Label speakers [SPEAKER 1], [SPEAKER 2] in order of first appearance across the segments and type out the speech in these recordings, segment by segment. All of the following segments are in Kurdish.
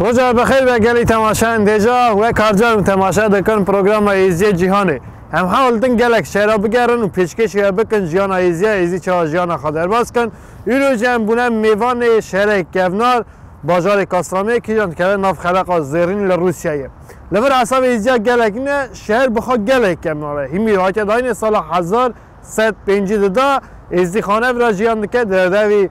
[SPEAKER 1] Roja bi xeyr be gelî temaşeyan dêja we karcaran temaşe dikin programa Êziyê Cîhanê. Em hewl din gelek şer re bigerin û pêşkêşî we bikin jiyana Êziya Êzî çawa jiyana xwe derbas kin. Îro jî em bûne mêvanê şerê kevnar bajarê Kastamê kîjan dikeve nav xeleqa zêrîn li Rûsyayê. Li vir hesabê Êziya gelek ne şer bi xwe gelek kevnar e. Hîmîr hate dayînê sala hezar sed pêncî di da Êzî xanevra jiyan dike di revî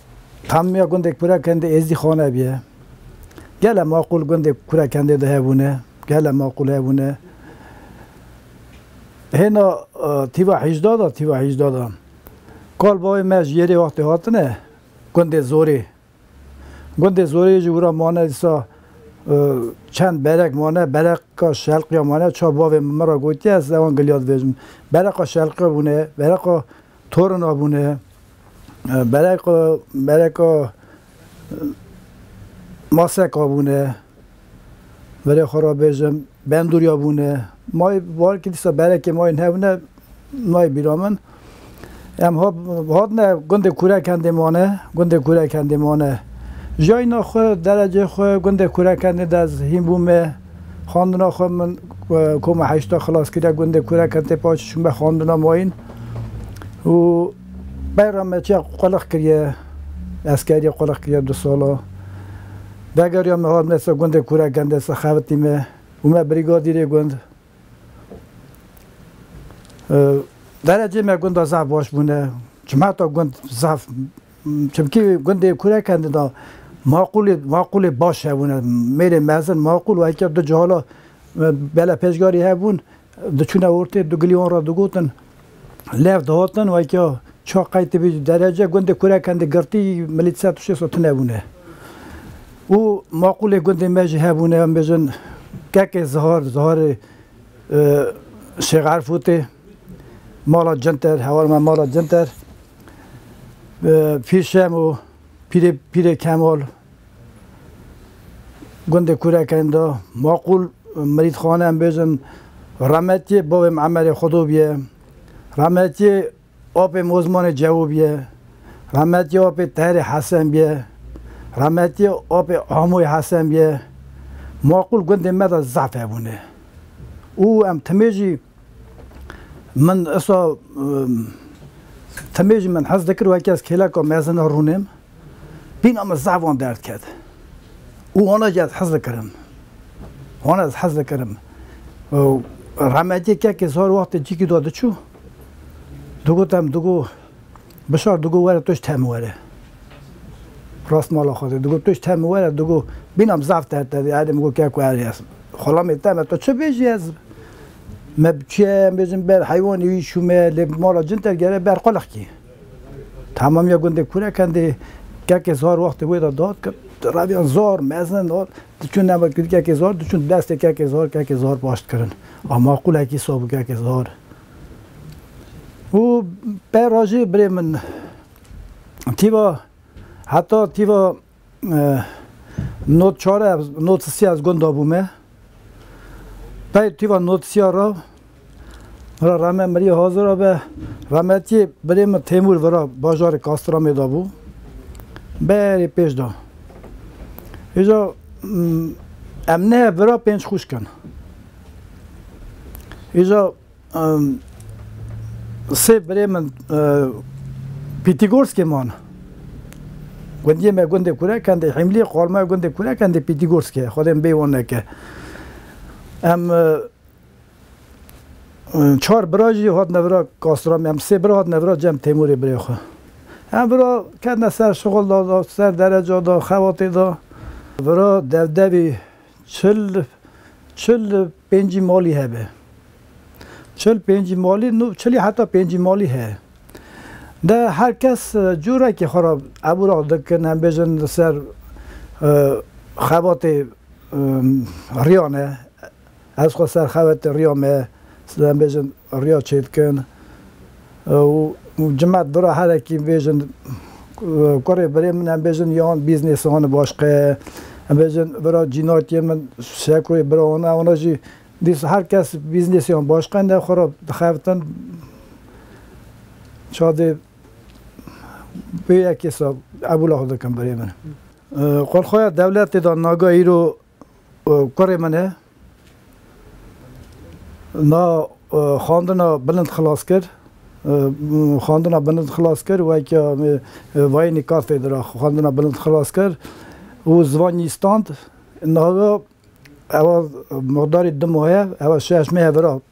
[SPEAKER 2] Tam ya gundê Kura Kendê Êzdî Xaneb ye. Gele maqûl gundê Kura Kendê de hebûne, gele maqûl hebûne. Hêna tîva hîjda de, tîva hîjda de kal bavê me ji yerê wextê hatine gundê Zorê. Gundê Zorê ji wira mane dîsa çend berek mane, bereqa şelqiya mane. Çav bavê min ra gotiye ez ewan giliya dibêjim. Bereqa şelqiya bûne, bereqa Torun abûne bereka bereka masek abûne verê xwe re bêjim bendûrî abûne mayê warkî dîsa berekê mayê hebûne nayê bîra min em hat hatine gundê kûrekendê mane gundê kûrekendê mane jiyayna xwe derecê xwe gundê kûrekendê de ez hîn bûme. Xwendina xwe min koma heşta xilas kiriye gundê Kureken tê paç çûm be xwendina mayîn û beyra me çiya qulix kiriye eskerî qulix kiriye du sala vegeriya me hat me ser gundê Kureken de ser xebitî me û me brîgadîrê gund derecê me gunda zaf baş bûne çima ta gund zaf Çimkî gundê kurek e da maqûlê maqûlê baş hebûne. Mêrê mezin maqûl û heke du cihalo bela pêşgarî hebûn diçûne ortê du gilî wan re digotin lev dihatin û heke çiha qeytî bî derece gundê kurek e girtî milî ser tiştê so tune bûne. Û maqûlê gundê me jî hebûne em bêjin kekê zihar ziharê Şêx Erfûtê mala cinter hewarma mala cinter. Pîr Şemo, Pîrê Pîrê Kemal gundê Kurekeyn de maqûl mirîdxane em bêjin Remetiyê bavê min Emerê Xwedo bûye. Remetiyê apê min Ozmanê Cewo bûye. Remetiyê apê Teherê Hesen bûye. Remetiyê apê Amoyê Hesen bûye. Maqûl gundê me de zaf hebûne û em timê jî Min esa temê jî min hez dikir wekî ez kêleka mezin a rûnê me. Bîna min zaf wan derd ket û wana jî ez hez dikirim. Wana ez hez dikirim. Rahmetî kekê sar wextê cîkî de diçû digot em digot Bişar digot were tu ji te min were. Rast mala xwe dê. Digot tu ji te min were digot bînam zaf te te dê. Erê min got ke ku erê ez xulamê te me tu çi bêjî ez me bi çi em bêjim ber heywanê wî çû me lê bi mala cin te gere ber qulix kî. Tamamiya gundê Kurekendê kekê zar wextê wê de dat kir reviyan zar mezin hat diçûn nava kekê zar diçûn destê kekê zar kekê zar baş dikirin. A maqûlekî sab û kekê zar Û peyra jî birê min tîva heta tîva not çar e not sî ez gund dabûme. Pey tîva not sî ra ra rame mirî hazir abe rametî birê min Têmûr vira bajarê Kastramê de bû. Berê pêş da. Îja em ne vira pênc xwişk in. Îja sê birê min Pîtîgorskê man. Gundiyê me gundê Kurekendê, Hîmliyê Xormaya gundê Kurekendê Pîtîgorskê ye. Xwedê min bêyî wan neke. Em çar bira jî hatine vira Kastramê. Em sê bira hatine vira cem Têmûrê birê xwe. Em vira ketine ser şixul da, ser dereca da, xebatê da. Vira dewdewî Çil çil pêncî malî hebe. Çil pêncî malî nû çilî heta pêncî malî heye. De her kes cûrekê xwe re ebû re dikin, em bêjin li ser xebatê riyan e, ez xwe serxebetê riya me, em bêjin Riya çêdikin û cimet bira herekî bêjin kurê birê min em bêjin yan bîznês wan baş qe em bêjin bira cînatiyê min şeko yê bira wan e wana jî dîsa her kes bîznêsê wan baş qe ne xwe re dixebitin çadê wê yekê sal qebûla xwe dikin birê min. Qol xwe ya dewletê da naga îro Kurê min e na xwandina bilind xilas kir, xwandina bilind xilas kir weke vayênî katedra xwandina bilind xilas kir û ziwan yî stand. Naga ewa miqdarî di maye ewa şeş meh vira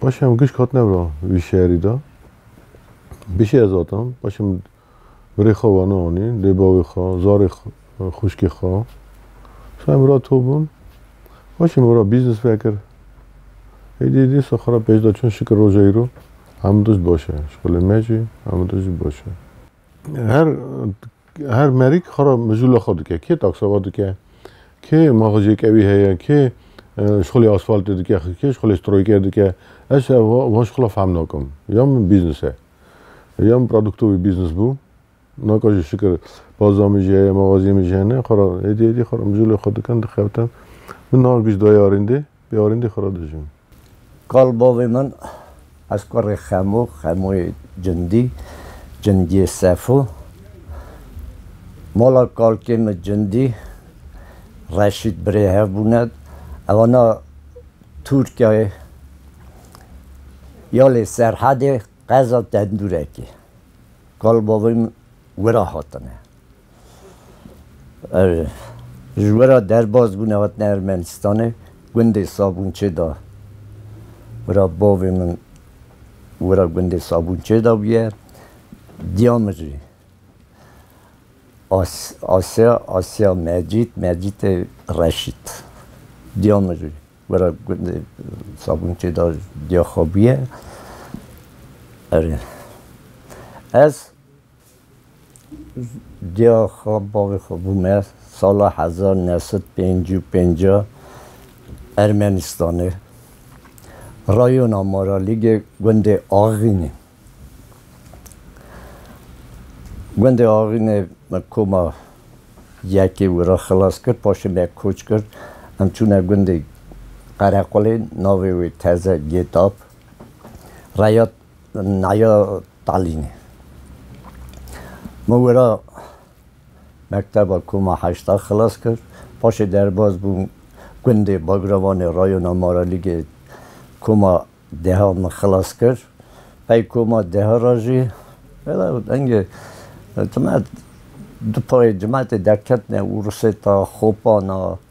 [SPEAKER 3] Paşê em gişk hatine vira vî şerî de. Bişê ez hatim, paşê min birê xwe wena anî, lê bavê xwe, zarê xwişkê xwe. Paşê em vira to bûn. Paşê min vira bîznis vekir. Êdî dîsa xwe re pêş de çûn şikir roja îro. Hemû tişt baş e. Şixulê me jî hemû tişt jî baş e. Her her merîk xwe re mijûla xwe dike. Kê takseva dike, kê maxujêkewî heye, kê şixulê asfaltê dike, kê şixulê stroyker dike. Ez ev van şixula fehm nakim. Ya min bîznis e. Ya min pradukto wî bîznis bû. Naka jî şikir baza min jî heye, maxazîyê min jî hene. Xwe re hêdî hêdî xwe re mijûlê xwe dikim, dixebitim. Min niha giş daye arêndê. Bi arîndî xwe re dijîm. Kal bavê
[SPEAKER 4] min, ez kurê Xemo, Xemoyê Cindî, Cindiyê Sefo, mala kalkê min Cindî, Reşît birê hev bûne, ew ana Tirkiyeyê ya lê Serhedê qeza Tendurekê. Kal bavê min wira hatine. Ji we re derbas bûne hatine Ermenistanê gundê Sabûnçê de wira bavê min wira gundê Sabûnçê de bûye diya min jî Asya Asya Mecîd Mecîdê Reşîd diya min jî wira gundê Sabûnçê de diya xwe bûye. Ez Dêya xwe bavê xwe bû me sala hezar û new sed û pênc û pênc Ermenistanê. Rayona Maralîgê gundê Axînê. Gundê Axînê min koma yekê wî re xilas kir paşê me koç kir. Em çûne gundê Qerequlê navê wê teze Gêtab. Reya Naya Talînê. Min wira mekteba koma heşta xilas kir. Paşê derbas bûm gundê Bagravanê rayona Maralîgê koma deha min xilas kir. Pey koma deha re jî vella dengê tu me du payê cimetê derketine Urusêta, Xopana,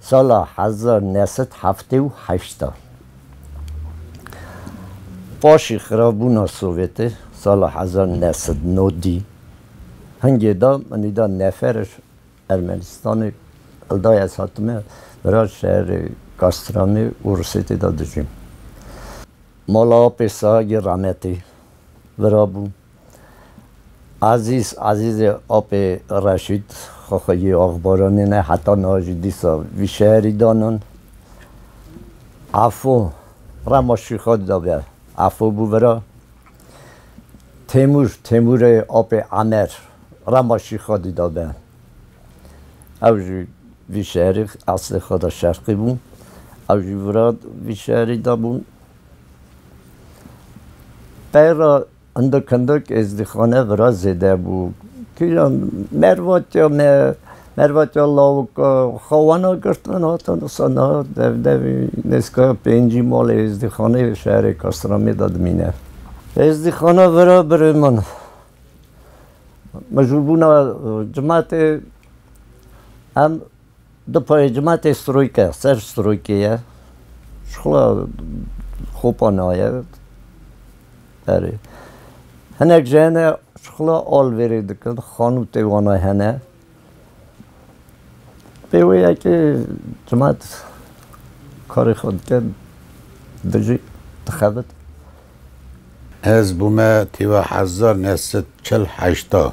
[SPEAKER 4] Sala hezar neh sed heftê û heşt a paşî xirabûna Sovêtê sala hezar neh sed no dî hingê da min î da neferê Ermenistanê li dayê ez hatime vira şerê Kastramê û Rusêtê da dijîm. Mala apê Sahagê Rametê vira bûm. Azîz Azîzê apê Reşîd Xoxoyî Axbaranê ne heta niha jî dîsa vî şerî danan. Efo Rema Şîxa dida be. Efo bû vira. Têmûr Têmûrê apê Emer Rema Şîxa dida be. Ew jî vî şerî eslê xwe de şerqî bû. Ew jî vira vî şerî de bû. Peyra hindik hindik êzdîxane vira zêde bû. Kîjan mervatya me, mervatya lawika xewana girtin hatin disa niha dev devî nêzîkaya pêncî malê êzdîxanê li şerê Kastamî de dimîne. Êzdîxana vira birê min mijûlbûna cimetê em Di payê cimatê stroyke ser stroykê ye. Ji xwe xopa naye. Erê. Hinek ji hene ji xwe alvêrê dikin. Xanûtê wana hene. Pê wê ye ki cimat karê xwe dike dijî dixebit.
[SPEAKER 5] Ez bûme tîva hezar neh sed çil heşta.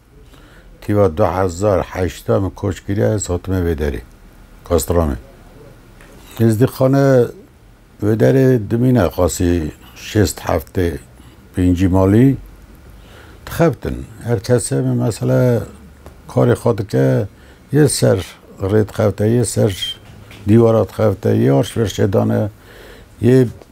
[SPEAKER 5] Tîva du hezar heşta min koç kiriye ez hatime vê derê. Kastramê. Ez dî xane vê derê dimîne qasî şêst heftê pêncî malî dixebtin. Her kesê min mesele karê xwe dike yê ser rê dixebite yê ser dîwara dixebite yê arşverşê dane yê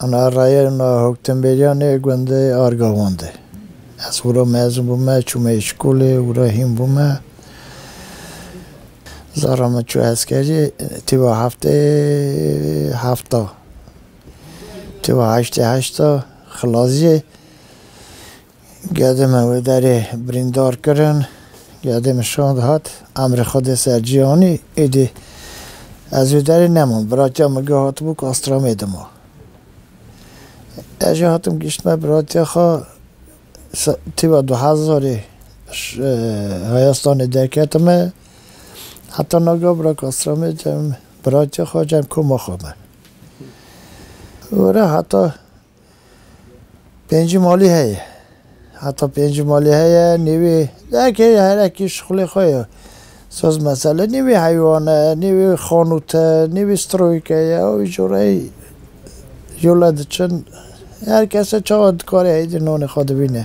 [SPEAKER 2] Ana rayê na hoktemberîya nê gundê Argawan de. Ez wira mezun bûme, çûme îşkolê, wira hîn bûme. Zara min çû eskerî, tîwa heftê hefta, tîwa heştê heşta xilasî. Gedê me wê derê birîndar kirin. Gedê min şand hat. Emrê xwe dê ser Cîhanî. Êdî ez wê derê nemam. Biratiya min ge hatibû ku Astramê dima. Ez jî hatim gihîştime biratiya xwe. Tîba du hezarê heya stranê derketime. Heta naga birek Astramê cem biratiya xwe cem koma xwe me. Were heta Pêncî malî heye. Heta pêncî malî heye nê wê dehekê herekî şixulê xwe ye. Soz mesele nê wê heywan e, nê wê xanût e, nê wê stroyîke ye û wî coreyî jole diçin. Her kese çawa dikare heydê nanê xwe dibîne.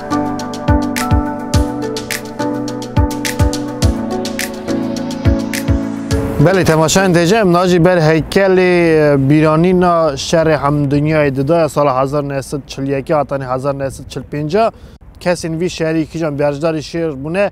[SPEAKER 1] Belê temaşayên têje em nacî ber heykelê bîranîna şerê hemdunyayê di daya sala 1941 hatanê 1945 kesên vî şerî kîjan berjdarî şêr bûne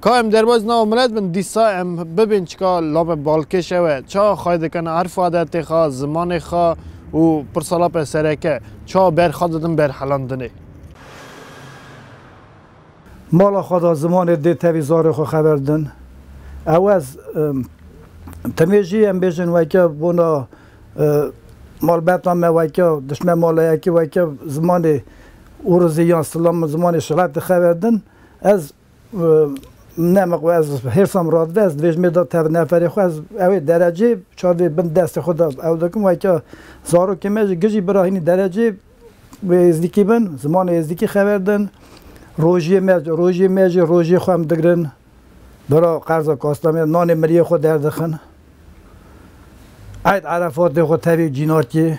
[SPEAKER 1] Ka em derbas nava milet bin, dîsa em bibên çika lape balkêş ew e. Ça xay dikin erf adetê xwe, zimanê xwe û pirsa lape sereke, ça ber xwe didin berhelandinê.
[SPEAKER 2] Mala xwe da zimanê dê tevî zarê xwe xeber din. Ewez temê jî em bêjin weke bona malbata me weke dişme mala yekê weke zimanê ûrizî yan silam zimanê şiretê xeber din. Ez neme ku ez hêrsa min radibe, ez divêjim ê da tev neferê xwe, ez ew ê derecê çavê bin destê xwe de ew dikim, weke zarokê me jî gijî birahînî derecê wê êzdîkî bin, zimanê êzdîkî xeber din, rojiyê me rojiyê me jî rojiyê xwe em digirin, bira qerza kastamê nanê miriyê xwe derdixin, eyd erefatê xwe tevî cînakê.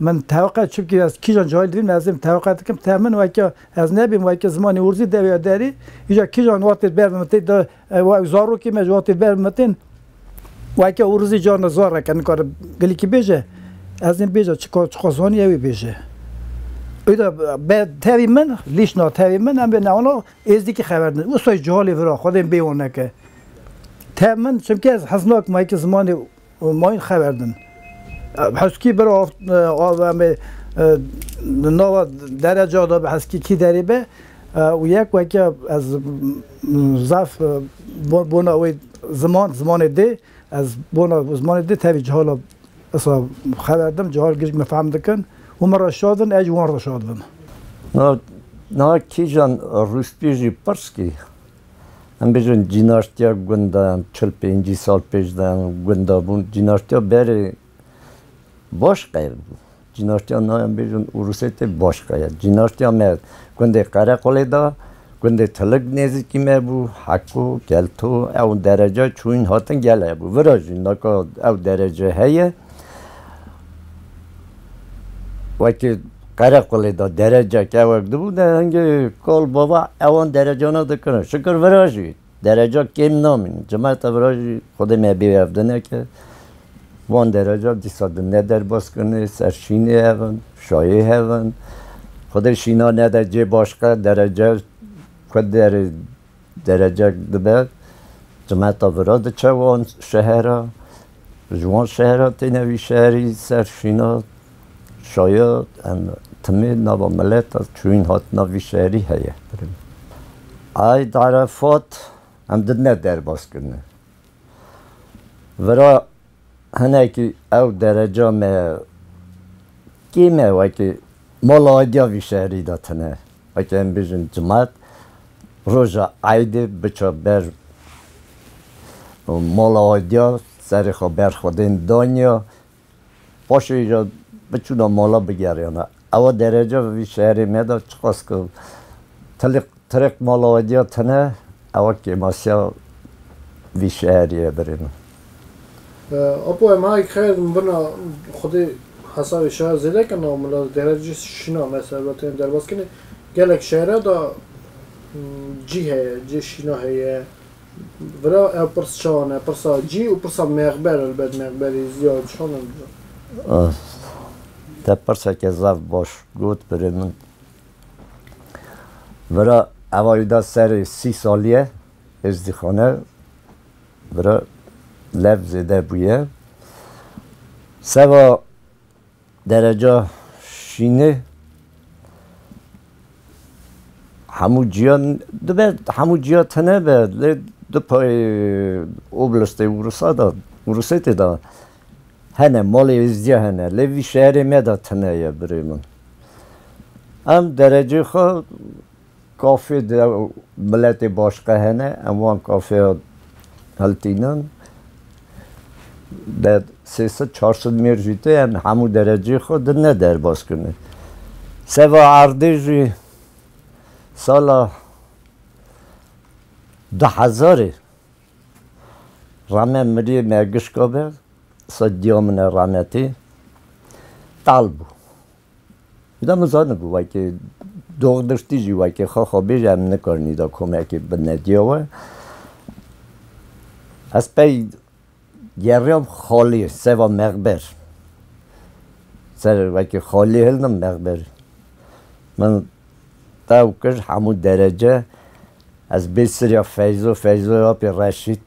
[SPEAKER 2] Min tewqe çimkî ez kîjan cahil dibîm ez êm tewqe dikim te min weke ez nebîm weke zimanê urzî dewiya derî îja kîjan watê berv mitê de wek zarokî me ji watê berv mitên weke urzî carna zar eke nikare gilikî bêje ez êm bêje çika çika zanî ewê bêje îda be tevî min lîşna tevî min em bê newana êzdîkî xeber din usta cihali vira xwedên bêwan neke te min çimkî ez hez nakim weke zimanê û mayîn xeber din. Heskî bir ava me di nava dereca de bi heskî kî derê be û yek weke ez zaf bona wê ziman, zimanê dê ez bona zimanê dê tevî cihala esa xeber din, cihal girîng min fehm dikin û min re şa din, ez jî wan re şa dibim. Niha
[SPEAKER 4] kîjan rûspiyê jî pirs kî Em bêjin cînaştiya gundan çil pêncî sal pêş de gunda bûn. Cînaştiya berê baş qeyer bû. Cînaştiya na em bêjin Urusê tê baş qeyer. Cînaştiya me gundê Qereqolê da, gundê Tilig nêzîkî me bû, Heko, Kelto ew dereca çûyîn hatin gel hebû. Vira jî naka ew derece heye. Wekî Qereqolê de derecek ewek dibû de hingê kal bava ewan derecana dikirin. Şikir vira jî dereca kêm namînin. Cimeta vira jî Xwedê me bê ev dineke. Wan dereca dîsa di ne derbas kirinê, ser şînê hev in, şayê hev in. Xwedê şîna nede cê başka derece ku derê. Derecek dibe cimeta vira diçe wan şehera, ji wan şehera têne wî şerî ser şîna şaya em timê nava mileta çûyîn hatina vî şerî heye. Eid Arefat em didine derbas kirine. Vira Hinekî ew dereca me kêm e wekî mala Aydiya vî şerî de tune. Wekî em bêjin cumat roja Aydê biça ber mala Aydiya serê xwe ber xwedên daniya. Paşê îcar biçûna mala bigeriyana Ewa derece vî şerê me de çiqas ku tilîq tirêq mala we diya tune, ewa kêmasiya vî şerê ye birê min.
[SPEAKER 1] Apo em hay xeyr din bina xwedê hesabê şer zêde ke nav mila de derece şîna me ser be têne derbas kirin. Gelek şere de cî heye, cê şîna heye. Bira ev pirs çawan e, pirsa cî û pirsa mêxber elbet mêxberî ziya çawan e bira.
[SPEAKER 4] Te pirseke zaf baş got birê min. Bira eva î da serê sî saliye êzdîxane bira lev zêde bûye. Seva Dereca şînê hemû ciya dibe hemû ciya tune be lê di payê oblastê Urûsa de Urûsêtê de hene malê êzdiya hene lê vî şerê me de tune ye birê min. Em derecê xwe Kafê di miletê başiqe hene, em wan kafeya heltînan de sê sid çar sid mêr jî tê, em hemû dereceyê xwe di ne derbas kirine. Seva erdê jî sala du hezarê rame miriyê me gişka be, qisa diya min e rame tê, tal bû. Nida min zana ku wekî dox diştî jî wekî xwe xwe bêje em nikarin nîda komekê binediya we. Ez pey geriyam xaliyê seva mexber. Ser wekî xaliyê hilnim mexber. Min tew kir hemû derece ez bê siriya Feyzo, Feyzoya apê Reşît.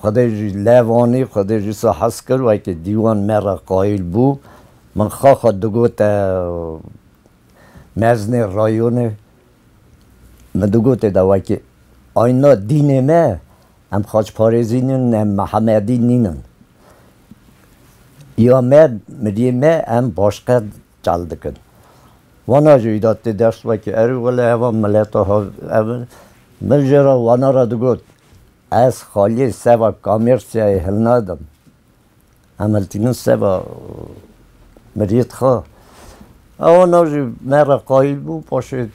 [SPEAKER 4] Xwedê jî lev anî, Xwedê jî sa hez kir, wekî dîwan me re qayîl bû. Min xaxa digote meznê rayonê, min digote de wekî ayna dînê me em xaçparêzî nîn em mehemedî nîn in. Ya me, miliyê me em başqe çal dikin. Wana jî îda tê ders wekî erî wele heva mileta ha ev in. Min jê re wana re digot, Ez xaliyê seva kamêrsiyayê hilnadim. Em hiltînin seva miriyê dixa. Ew wana jî me re qayîl bû, paşê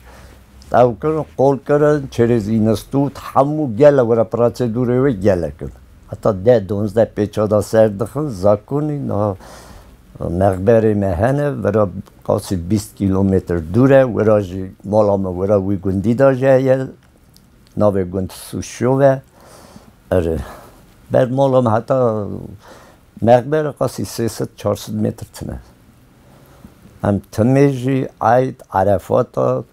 [SPEAKER 4] ew kirin, qol kirin, çerêz înis tût, hemû gele were piratsedûrê wê gelek in. Heta deh, donzdeh pêça da ser dixin, zakonî niha Mexberê me hene, wira qasî bîst kîlometr dûr e. Wira jî mala me wira wî gundî de jî heye. Navê gund Sûşov e. Erê, ber mala me heta Mexber qasî sê sed çar sed metr tune. Em timê jî Eyd, Erefat a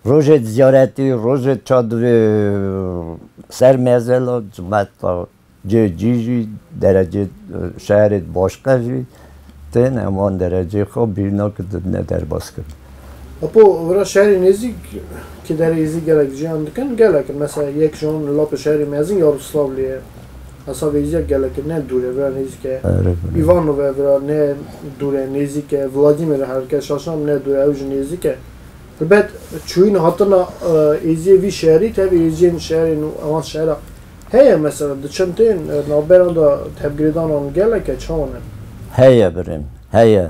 [SPEAKER 4] Rojê ziyaretî, rojê çadirê ser mezela cimeta cê cî jî derecê şerê di başka jî tên em wan derecê xwe bîrna ku dibne derbaskirin. Apo
[SPEAKER 1] wira şerê nêzîk ki derê êzî gelek jiyan dikin gelek in. Mesela yek ji wan lapê şerê mezin Yaroslavlê ye. Hesabê êzîya gelekê ne dûr e vira nêzîk e. Îvanov e vira ne dûr e nêzîk e. Vladîmîr e herke şaşan ne dûr e ew jî nêzîk e. Ribet çûyîn hatina êziyê vî şerî tevî êziyên şerên û evan şera heye mesela di çemteyên navberan de tevgirêdanan gelek e çawan in? Heye birîn
[SPEAKER 4] heye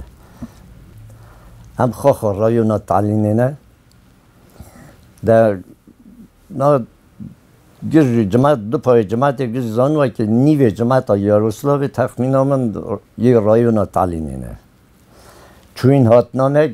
[SPEAKER 4] em xwe xwe rayona talînê ne de na gir jî cimat du payê cimatê gir zan weke nîvê cimata yaroslavê texmîna min yê rayona talînê ne çûyîn hatina me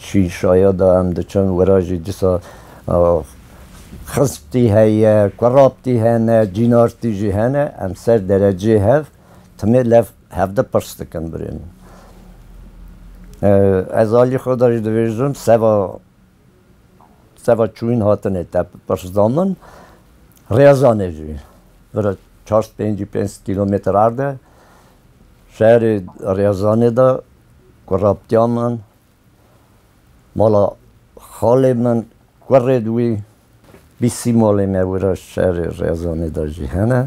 [SPEAKER 4] şî şayada em diçin wira jî dîsa xizptî heye, kuraptî hene, cînartî jî hene, em ser derecê hev timê lev hevdi pirs dikin birê min. Ez alî xwe de jî dibêjim seba Seba çûyîn hatine teppirsdanin Rêzanê jî vira çar pêncî pênc kîlometre erde şerê Rêzanê de ku rabtiya min mala xalê min kurê di wî Bîst sîmolên newira ji şerê Rezanê de jî hene.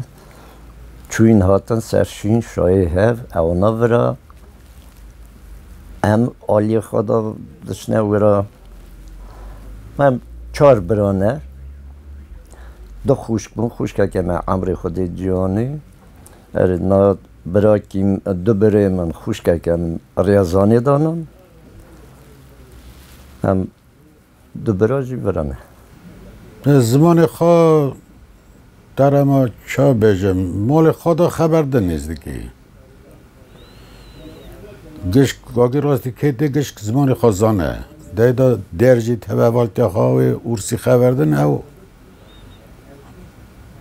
[SPEAKER 4] Çûyîn hatin ser şîn, şayê hev, ew navira. Em aliyê xwe de diçine wira. Em çar bira ne. Du xwişk bûn, xwişkeke me Emrê Xwedê Ciyanî. Erê na birakî, du birê min xwişkeke min Rezanê danin. Em. Du bira jî vira me.
[SPEAKER 5] Zimanê xwe terema ça bêjim? Malê xwe de xeber de nêzdikî. Gişk vagî rastî kêtê gişk zimanê xwe zane. Dey de dêr jî teve valtiya xwe wê ûrsî xeber din ew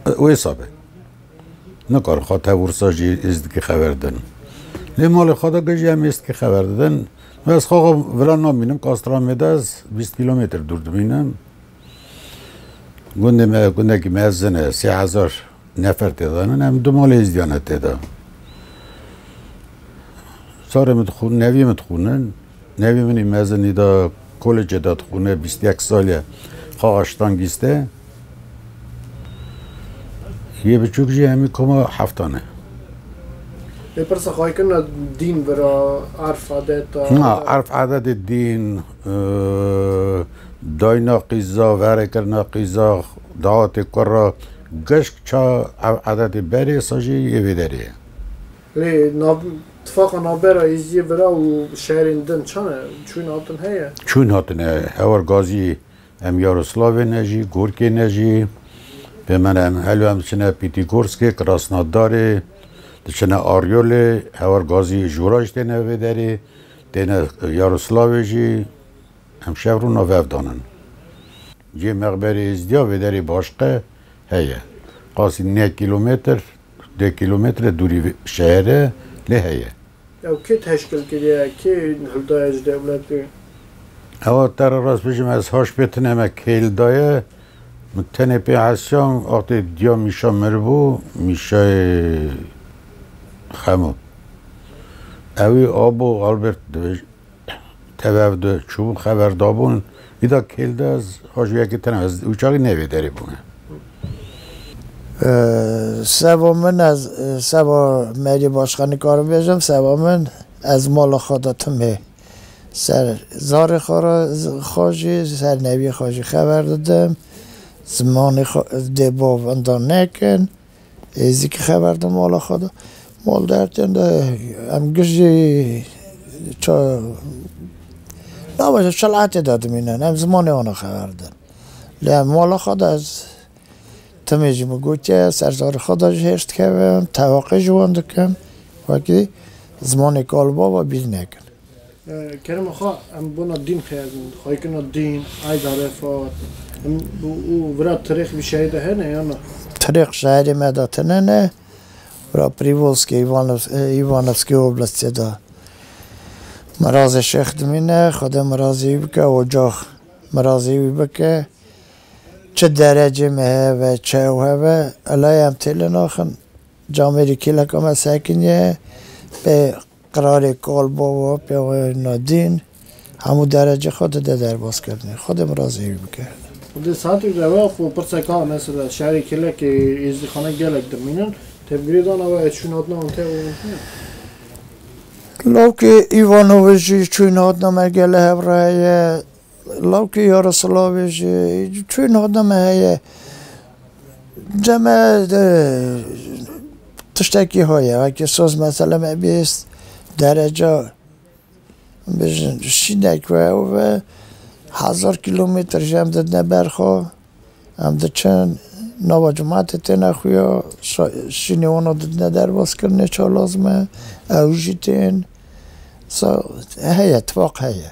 [SPEAKER 5] wêsa be. Nikarin xwe tev ûrsa jî êzdikî xeber din. Lê malê xwe de gijî em êzdikî xeber didin. Ez xwe xwe vira namînim Kastramê de ez bîst kîlometr dûr dimînim. Gundê me gundekî mezin e sê hezar nefer têdanin em du malê êzdiyan e têda. Sarê min dixûn nevî min dixûnin nevî min î mezinî da kolêcê de dixûne bîst yek sal e xaxaştan gîste. Yê biçûk jî hemî koma heftan e.
[SPEAKER 1] Lê pirsa xwe kirina dîn bira erf adeta. Na erf adetê
[SPEAKER 5] dîn dayna qîza verê kirina qîza dahatê kura geşk ça ev adetê berê sa jî yê vê derê ye. Lê
[SPEAKER 1] nav tifaqa navbera Êzidiyê bira û şerên din çane? Çûn hatin heye? Çûn hatine
[SPEAKER 5] hewar gazî Em Yaroslavê ne jî, Gorkê ne jî. Pê min em helo em diçine Pîtîgorskê, Krasnodarê, diçine Aryolê, hewar gazî jûra jî têne vê derê, têne Yaroslavê jî. Em şev rû nav hev danin. Cihê mexberê Êzdîya vê derê Başqe heye. Qasî ne kîlometr, dê kîlometre dûrî vê şehre lê heye. Ew kê teşkil
[SPEAKER 1] kiriye? Kê li daye ji dewletê? Ewa
[SPEAKER 5] te re rast bijîm ez haş pê tune me kê li daye. Min tenê pê hesiya wextê diya Mîşa miribû, Mîşayê Xemo. Ewî abo Albert dibêjin. Tev de çûbûn xeber dabûn îda kêl de ez hajû yekê tena ez û çaxî nevê derê bûne.
[SPEAKER 6] Seba min ez seba merî başka nikarim bêjim seba min ez mala xwe de timê ser zarê xwe re xwe jî ser neviyê xwe jî xeber didim zimanê xwe dê bav inda nekin. Êzîkî xeber da mala xwe de. Mal de her têm de em giş jî na baş e çilatê de dimînin. Em zimanê wan e xeber din. Lê em mala xwe de ez timê jî min gotiye serdarê xwe de jî hêrs dikevin, teveqe ji wan dikim. Wekî zimanê kalbaba bîr nekin. Kerema
[SPEAKER 1] xwe em bona dîn xeyazin, xwayê kirina dîn, Eid Arefat, em û vira tirêx vî şerê de hene ya na? Tirêx şerê
[SPEAKER 6] me de tune ne, vira Prîvolskê, Îvanevskê Oblastê de. Mirazê şêx dimîne, Xwedê mirazê wî bike, ocax mirazê wî bike. Çi derecê me hebe, çi ew hebe, elaye em têlê naxin. Camêrî kêleka me sekinî ye, bê Qrarê Kalbova pêwayên me dîn, hemû derece xwe dide derbas kirinê. Xwedê min re zêwî bike. Di saetê de
[SPEAKER 1] we xwe pirsek a, mesela şerê Kilekê, Êzdîxanê gelek dimînin, tevgirê dana we ez çûn hatina wan te û wan
[SPEAKER 6] te? Lawkê Îvanovic jî çûn hatina me gele hevre heye, Lawikê Yarasilavê jî çûyî niha deme heye. Deme tiştekî heye wekî soz mesele me bihîst dereca bijin şînek ve ew ve hezar kîlometr ji em didine ber xwe em diçin nava cimatê têne xuya şînê wan a didine derbaskirinê çalaz me ew jî tên heye tifaq heye.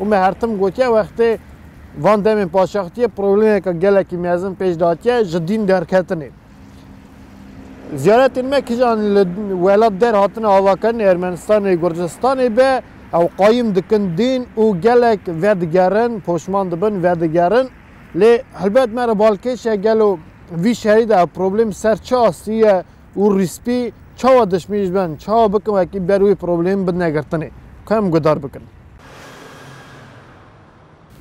[SPEAKER 1] Û me her tim gotiye wextê van demên paşextiyê problemeka gelekî mezin pêş datiye ji dîn derketinê. Ziyaretên me kijan li welat der hatine avakirin Ermenistanê, Gurcistanê be ew qayim dikin dîn û gelek vedigerin, poşman dibin, vedigerin. Lê helbet me re balkêş e gelo vî şerî de ev problem ser çi astî ye? Û rîspî çawa dişmî ji ben çawa bikin wekî ber wî problêm bidine girtinê ku em gudar bikin.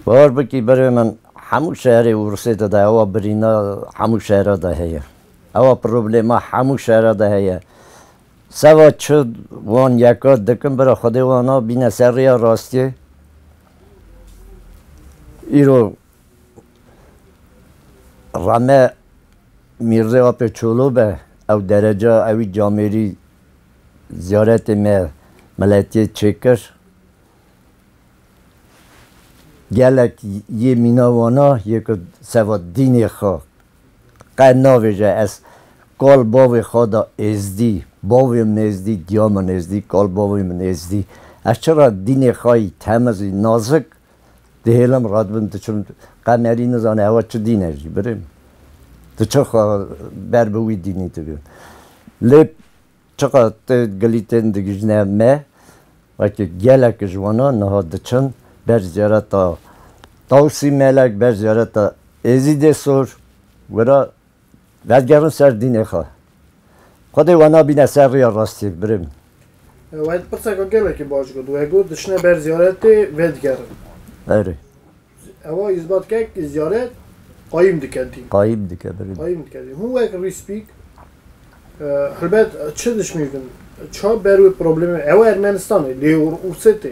[SPEAKER 4] Baş bikî berê min hemû şerê Ûrsê de de ewa birîna hemû şera de heye. Ewa problêma hemû şera de heye. Seva çi wan yeka dikin bira xwedê wan a bîne ser rêya rastiyê. Îro Rame Mîrzê Apê Çolo be, ew derece ewî camêrî ziyaretê me miletiyê çê kir. Gelek yê mîna wana yê ku seba dînê xwe qe navêje ez kal bavê xwe de êzdî, bavê min êzdî, giya min êzdî, kal bavê min êzdî. Ez çira dînê xwe yî temizî nazik Dihêlim radibim diçim qemerî nizane hewa çi dîne jî birê min. Diçim xwe ber bi wî dînî dikim. Lê çiqa te gilî tên digijne me wekî gelek ji wana niha diçin ber ziyareta Tawsî Melek, ber ziyareta Êzîdê Sor wira Dest gerin ser dînê xwe. Xwedê we nabîne ser rêya rastî birim. Wahîd
[SPEAKER 1] pirseka gelekî baş got. We got diçine ber ziyaretê vedigerin. Berê.
[SPEAKER 4] Ewa
[SPEAKER 1] îsbat kek kî ziyaret qayîm dike dîn. Qayîm dike birim.
[SPEAKER 4] Qayîm dike dîn. Hûn wek
[SPEAKER 1] rîspîk helbet çi dişmîvin, çi ber wê problemê ew Ermenistanê lê Rûsê tê.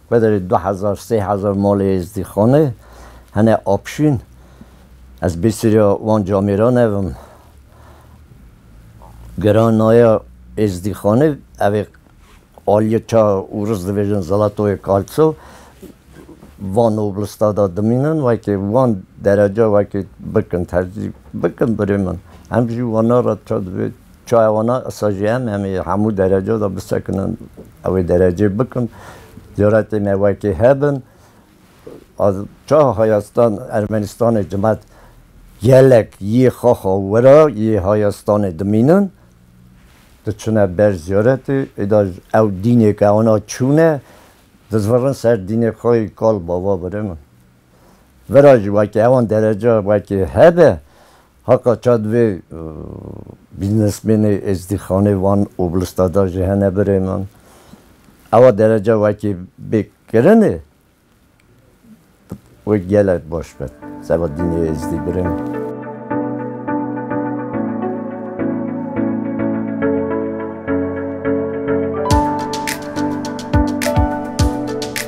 [SPEAKER 4] Bederê du hezar sê hezar malê Êzdîxanê hene apşîn. Ez bêseriya wan camêran ev im. Gera naya Êzdîxanê ev ê aliyê ça û riz dibêjin Zalatoyê Kaltso van oblista da dimînin wekê wan dereca wekê bikin tercî bikin birê min. Em jî wana re ça dibê Çaye wana esa jî em em ê hemû derece de bisekinin, ew ê derecê bikin, cüretê me wekê hebin. Ez çawa Hayastan Ermenistanê cimet gelek yê xaxa wira yê Hayastanê dimînin, diçine ber cüretê, êda ew dînê ke wana çûne, dizvirin ser dînê xwe yê kal bava birê min. Vira jî wekê ewan derece wekê hebe, Haka ça divê bîznesmênê Êzdîxanê wan û lista da jî hene birê min. Ewa derece wekî bê kirinê wê gelek baş be. Seba dînê Êzdî birê min.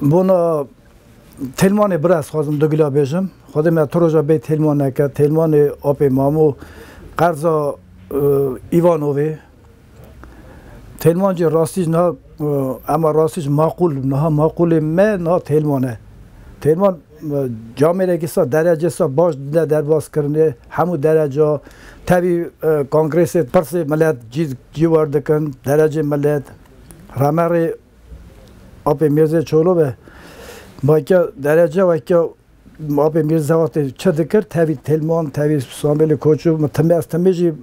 [SPEAKER 2] Bona Têlmanê bira ez xwazim du gila bêjim. Xwedê me tu roja bê Têlman neke. Têlmanê apê Mamo qerza Îvanovê. Têlman jî rastî ji niha ema rastî ji maqûl niha maqûlê me niha Têlman e. Têlman camêrekî sa derecê sa baş dide derbaskirinê hemû dereca tevî kongrêsê pirsê milet cî cî werdikin derecê milet remerê Apê Mîrzê Çolo ve Bake derece weke Apê Mîrzê wextê çi dikir tevî Têlman tevî Samêlê Koçû min timê ez timê jî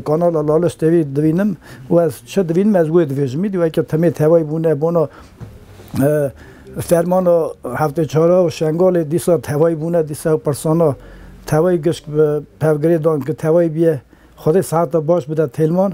[SPEAKER 2] kanala Laliş tevî divînim û ez çi divînim ez wê divêjim îdî weke timê tevayî bûne bona fermana heftê çara û Şengalê dîsa tevayî bûne dîsa ew pirsana tevayî gişt bi pevgirê dan ku tevayî bîye Xwedê seheta baş bide Têlman.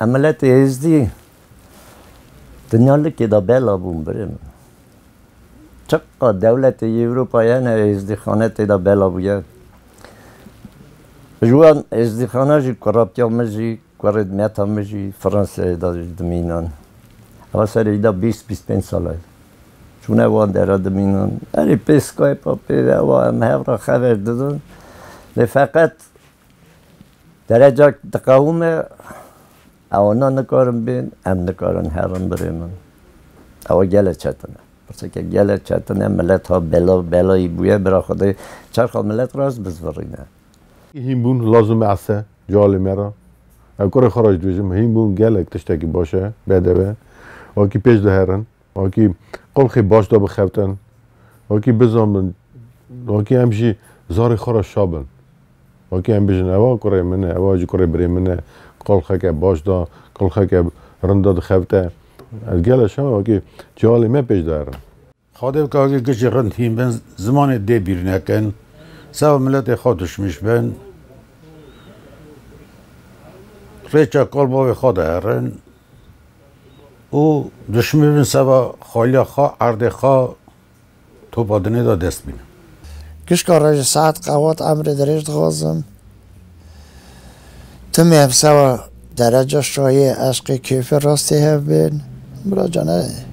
[SPEAKER 2] Em miletê êzdî
[SPEAKER 4] dinya likê de bela bûn birê min. Çiqad dewletê yê Ewropayê hene êzdîxane tê de bela bûye. Ji wan êzdîxana jî kuratiya min jî kurê dimeta min jî Fransayê de jî dimînan. Ewa serê wî de bîst bîst pênc sal e. Çûne wan dere dimînan. Erê pê Skype-a pê ewa em hev re xeber didin. Lê feqet Dereca diqewime ewana nikarin bên, em nikarin herin birê min. Ewa gele çetin e. Pirseke gele çetin e, milet ha bela belayî bûye, bira xwe dê çerxa milet re ez bizvirîne. Hînbûn
[SPEAKER 3] lazim e ese cealê me re. Ez kurê xwe re jî dibêjim, hînbûn gelek tiştekî baş e, bedeve. Wekî pêş de herin. Wekî qulxê baş de bixewtin, wekî bizanbin, wekî em jî zarê xwe re şa bin. Wekî em bijin ewa kurê min e, ewa jî kurê birê min e, qulxeke baş de, qulxeke rind de dixewte. Ez gelo şema wekî çialê me pêş de herin. Xwedê bike wekî
[SPEAKER 5] kiştî rind hîn bin, zimanê dê bîr nekin, seba miletê xwe duşmiş bin, rêça kal bavê xwe de herin. û duşmê bin seba xaliya xwe, erdê xwe topa dinê de dest bîne. Gişka
[SPEAKER 6] rejê saet qewat emrê dirêj dixwazim. Tu mê em seba dereca şayê eşqê kêfê rastê hev bên. Biracan e.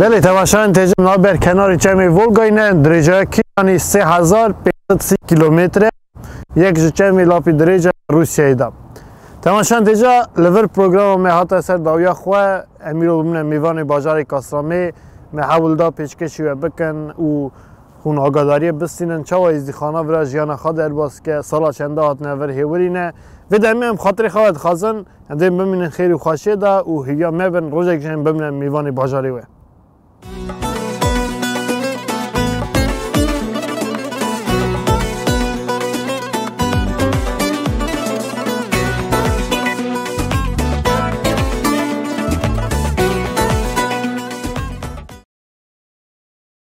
[SPEAKER 1] Belê tevaşayên têcem na ber kenarê çemê Volgayê ne dirêjeya kîlanî 3530 kîlometre yek ji çemê lapî dirêje Rûsyayê de. Tevaşayên têca li vir programa me hata ser dawiya xwe em îro bimine mêvanê bajarê Kastamê me hewl da pêşkêşî we bikin û Hûn agadariyê bistînin çawa Êzdîxana vira jiyana xwe derbas bike, sala çend e hatine vir hêwirîne. Vê demê em xatirê xwe vedixwazin em dê bimînin xêr û xweşiyê de û hêviya me bin rojek jî em bimrên mêvanê bajarê wê.